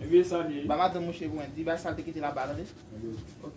Ebyen sa li ye. Ba madanm mouche pou mwen, di bay sal te kite la ba tande. Ok.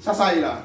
Sasa e la.